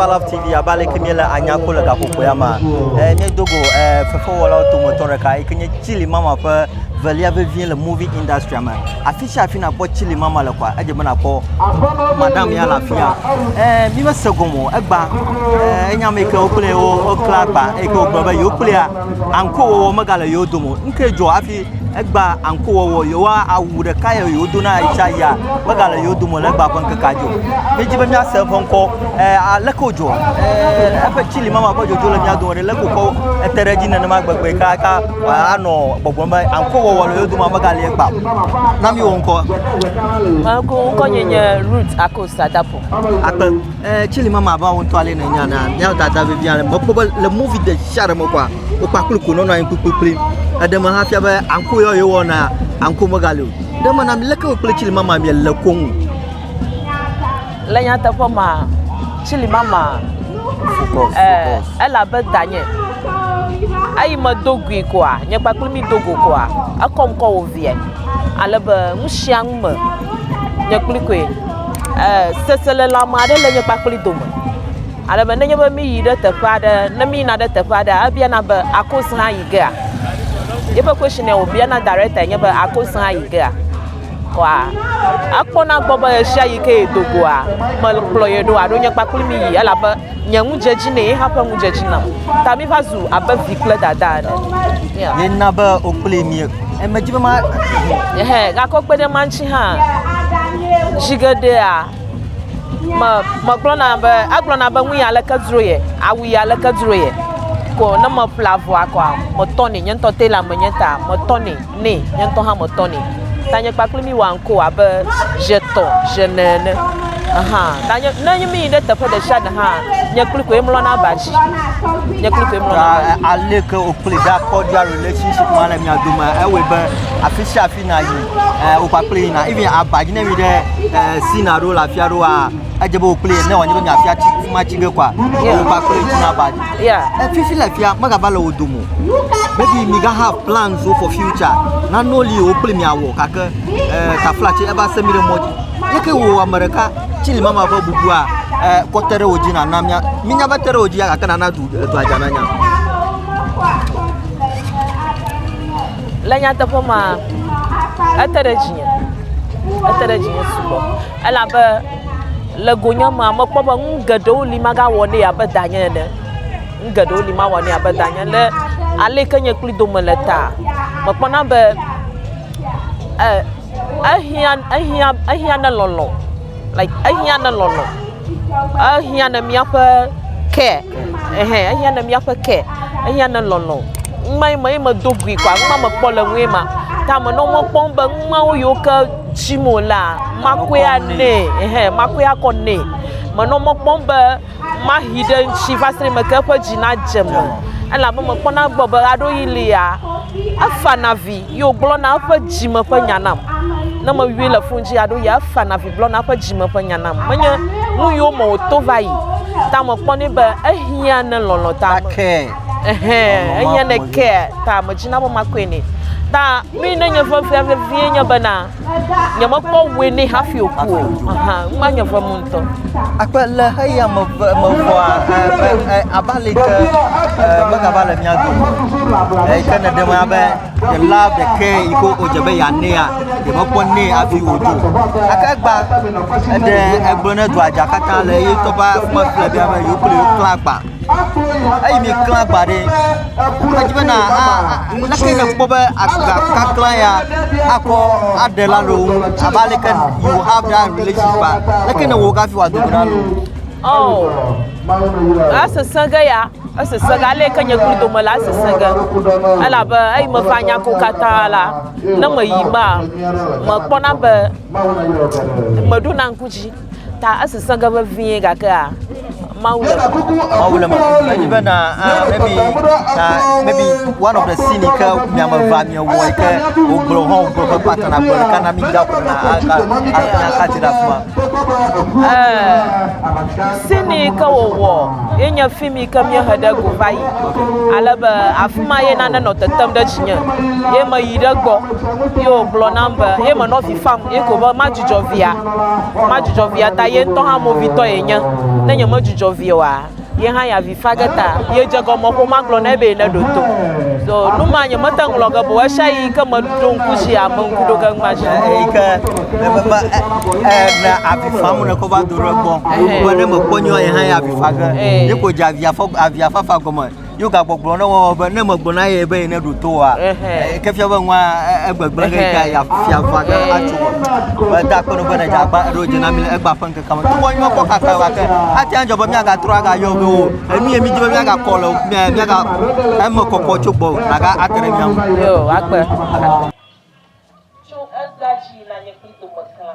Balaf TV abe aleke míele anya ko le gaƒoƒo ya mea eh, míedo go eh, fefewɔlawo dometɔ ɖeka yi ke nye chili mama ƒe velia vevie le movie industria me afi sia afi nakpɔ chili mama le kɔa edze be nakpɔ madam ya le afi ya eh, mi mese gom o egba eh, enya me yi ke wo kple wo wokle agba eyi ke wogblɔ be yewo kplea anko wɔwɔ megale yewo dome o nu ke dzɔ hafi Egba anko wɔwɔ yewoa awu ɖeka ye yewodo na yitsa yia mega le yewo dome le egba ƒe ŋkeke dzo. Míedzi be míase eƒe ŋkɔ. E, aleke wodzɔ? E, eƒe tsili mama ƒe dzodzo le mía dome ɖe leke wokɔ ete ɖe edzi nenema gbegbe ka ka anɔ gbɔgbɔm be anko wɔwɔ le yewo dome mega le egba. Na mi wɔ ŋkɔ. Ŋkɔ ŋkɔ nye nye Ruth Akos Adafo. Akpe. Eh, chili mama abe awo ŋutɔ ale nènya nea, míawo dada vevi ale. Mekpɔ be le movie ɖe sia ɖe me kɔa, wokpa kpli ko nɔnɔ anyi kplikplikpli. Eɖe me hafia be anko yɔ yewɔna, anko megali o. Ɖe me na mi leke wò kple chili mama miele koŋ. Le nyateƒe mea, chili mama Focus, eh, focus. ele abe danye. Eyi medo gui koa, nye kpakple mi do go koa, ekɔm kɔ wò Asiae, ale be nu sia nu me nye kpli koe. Ee, seselelãme aɖe le nye kpakpli dome. Ale be nenye be míyi ɖe teƒe aɖe, ne míyina ɖe teƒe aɖea, ebiana be akoze ayi gea? Yeƒe question ya wòbiana director nye be akoze ayi gea? Kɔa ekpɔna gbɔ be ɣesiaɣi ke yedo goa, mekplɔ ye ɖo alo nye kpakpli mi yi elabe nye ŋu dze dzi nɛ, ye hã ƒe ŋu dze dzi nam. Ta míva zu abe vi kple dada ene. Yeah. Ye na be wokpli mi. Emedzi be ma. Ehe, gakɔ kpe ɖe ma ŋuti hã. Zi geɖea, me megblɔna be egblɔna be nu ya leke dzro ye, awu ya leke dzro ye. Ko ne meƒle avɔa kɔa, metɔnɛ. Nye ŋutɔ tailor menye ta metɔnɛ. Nɛ, nye ŋutɔ hã metɔ nɛ. Tanye kpakple mí wɔa ŋkɔ abe ʒe tɔ ʒe ne ene. Aha, tanye, ne nye míyi ɖe teƒe ɖe sia ɖe hã, nye kloe koe mlɔna aba dzi. Nye kloe koe mlɔna aba dzi. Ale ke wòkplɔe ɖe akɔdzi alo relationship ma le mia dome. Ewɔe be afi sia afi nàyi, eh, wo kpakple yina. Even aba dzi ne mi ɖe, eh, Sina ɖo le afi aɖewoa, edze be wòkpli ne wòanye be miafia tsi fi ma tsi ge kɔa wò kpakple ŋutsu na ba dzi Yeah. efifi le fia megava le wò dome o maybe mi ga have plans wo for future nanewo li wò kpli miawɔ gake eh, tafla tsi eva se mi ɖe mɔ dzi yeke wò ame ɖeka tsi li mama ƒe bubua eh, kɔ te ɖe wò dzi nana mia minya be te ɖe wò dzi ya gake nana du eh, dua dza nanya Le nyateƒe ma, ete ɖe dzinye. Ete ɖe dzinye sugbɔ. Elabe le gonye mea, mekpɔ be nu geɖewo li magawɔ nɛ abe danye ene. Nu geɖewo li mawɔ nɛ abe danye le ale ke nye kpli dome le ta. Mekpɔna be e, ehiã, ehiã, ehiã ne lɔlɔ̃, like ehiã ne lɔlɔ̃, ehiã ne míaƒe ke, ehe, ehiã ne míaƒe ke, ehiã ne lɔlɔ̃. Numa ye me ye medo gui kɔa, numa mekpɔ le nue ma. Ta me nɔ mekpɔm be numawo yiwo ke. tsim o la, makɔe anɛ, ehe, makɔe akɔ nɛ. Menɔ mɔ kpɔm be mahi ɖe eŋuti va se ɖe meke eƒe dzi nadze me, elabe mekpɔna egbɔ be ɣeaɖewoɣi li la, efana avi ye wògblɔna eƒe dzime ƒe nya nam. Ne meyɔe le fon dzi ɣeaɖewoɣia, efana avi gblɔna eƒe dzime ƒe nya nam. Menye nuyiwo me wòto va yi ta mekpɔ nɛ be ehiã ne lɔlɔ̃ ta me. Ehe, ehiã ne care ta medzina be makɔe nɛ. Ta Nui ne nye ʋe fia vevie nye bena nyemekpɔ ʋe nɛ hafi wòku o. Aha, nu ma nye ʋe mum ŋutɔ. Akpe le xeya me ʋe- mevɔa, eh, be, eh, abe ale ke, eh, megava le mía dome o. Eyi ke nèɖe me abe ɖela ɖekɛ yi ke wodze be yeanɛa, yemekpɔ nɛ hafi wòdzo o. Gake egbã, eɖe egblɔ ne dua dza katã le ye ŋutɔ ƒe aƒe me kple be yewo kple yewo klã agba. eyi mi klã agba ɖi. Edzi be na a leke yi nakpɔ be agba kaklã ya akɔ aɖe la le wo ŋu abe ale ke you have that relationship ba leke ne wɔ wo kafi wòado go na nu. Oh, esesẽ ge ya, esesẽ ge ale ke nye kpli dome la esesẽ ge. Elabe eyi me ƒe anya ko katã la, ne meyi mea, mekpɔna be meɖona ŋku dzi. Ta esesẽ ge vevie, gakea Mawu le kuku. Mawu le kuku. Edzi be na uh, maybe na maybe one of the scene ke miame va miewɔe ke wogblɔ hã wogblɔ ƒe pata na gblɔ ɖeka na mi da ƒo na akati ɖe afima. Scene ke wòwɔ ye nye film yi ke míehe ɖe go va yi ale be afi ma ye nane nɔ tetem ɖe dzinye ye meyi ɖe gbɔ ye wògblɔ nam be ye menɔ vi fam ye ko be madzudzɔ via. Madzudzɔ via ta, ye ŋutɔ hã movitɔ yenye. Ne nyemedzudzɔ via oa, ye hã ya vi fa ge ta. Yedze egɔme xoxo magblɔ nɛ be neɖo to. So nu ma nyemete ŋu lɔ̃ ge be ɣesiaɣi yi ke meɖo ŋku dzi ame ŋku ɖo ge nu ma dzi. Eyi ke nebe be e, e, ne avi fam wòle kɔ va do ɖe egbɔ. Be ne mekpɔ nyuie ye hã ya avi fa ge. Ye ko dze avia fɔ, avia fafa gɔme. yo gagbɔgblɔ ne wɔwɔ be ne megblɔ na ye be ye ne ɖo to wa ke fia be ŋua egbegblẽ ɖe ta ya fia va ɖe atso me eda kpe ɖo be ne dzagba eɖo dze na mi le egba ƒe ŋkeke me tukɔ nyɔ kɔ kaka wa ke ate ŋu dzɔ be miagatrɔ agayɔ be o enu ye mi di be miagakɔ le mia miaga eme kɔkɔ tso gbɔ aga ate ɖe mia ŋu. Yo, akpe. Tso egbea dzi na nye kpli dome klã.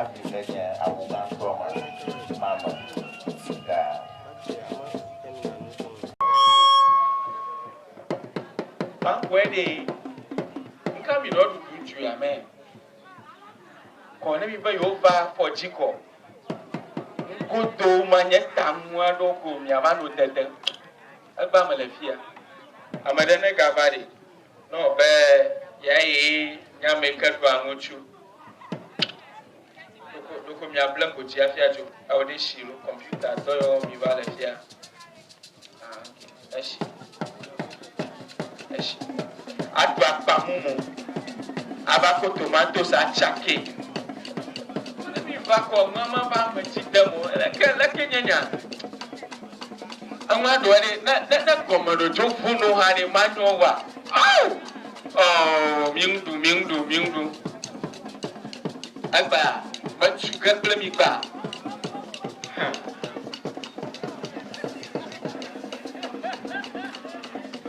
Afrika nye awu gãtɔ ma ma me sika. Mankpɔɛ ɖee, ŋka mi ɖɔ ɖuɖu ŋtsu ya mɛ kɔ ne mi be yo va fɔ dji kɔ ŋgo do ma nye ta ŋu a ɖɔ ko mia va no dede egba me le fia ameɖe ne ga va ɖe. Nɔ be ya ye nya me ke ɖoa ŋutsu ɖoko ɖoko mia ble ko dzi afia dzo eo ɖe shi lo computer dɔ yɔ mi va le fia ah ok eshi eshi aɖo akpa mumu ava ko tomatoes atsa ke ne mi va kɔ nua ma va me dzi dem o leke leke nye nya. Eŋua ɖewoa ɖe ne ne ne gɔmeɖo dzo ʋu nu hã ɖe manyo eŋua. Awu! Ɔɔ mi ŋu ɖu mi ŋu ɖu mi ŋu ɖu. Egbea metsu ge kple mi gbea.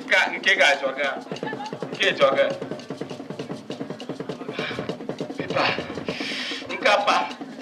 Ka nke ga dzɔ ge? Nke dzɔ ge. Pipa. Nkapa.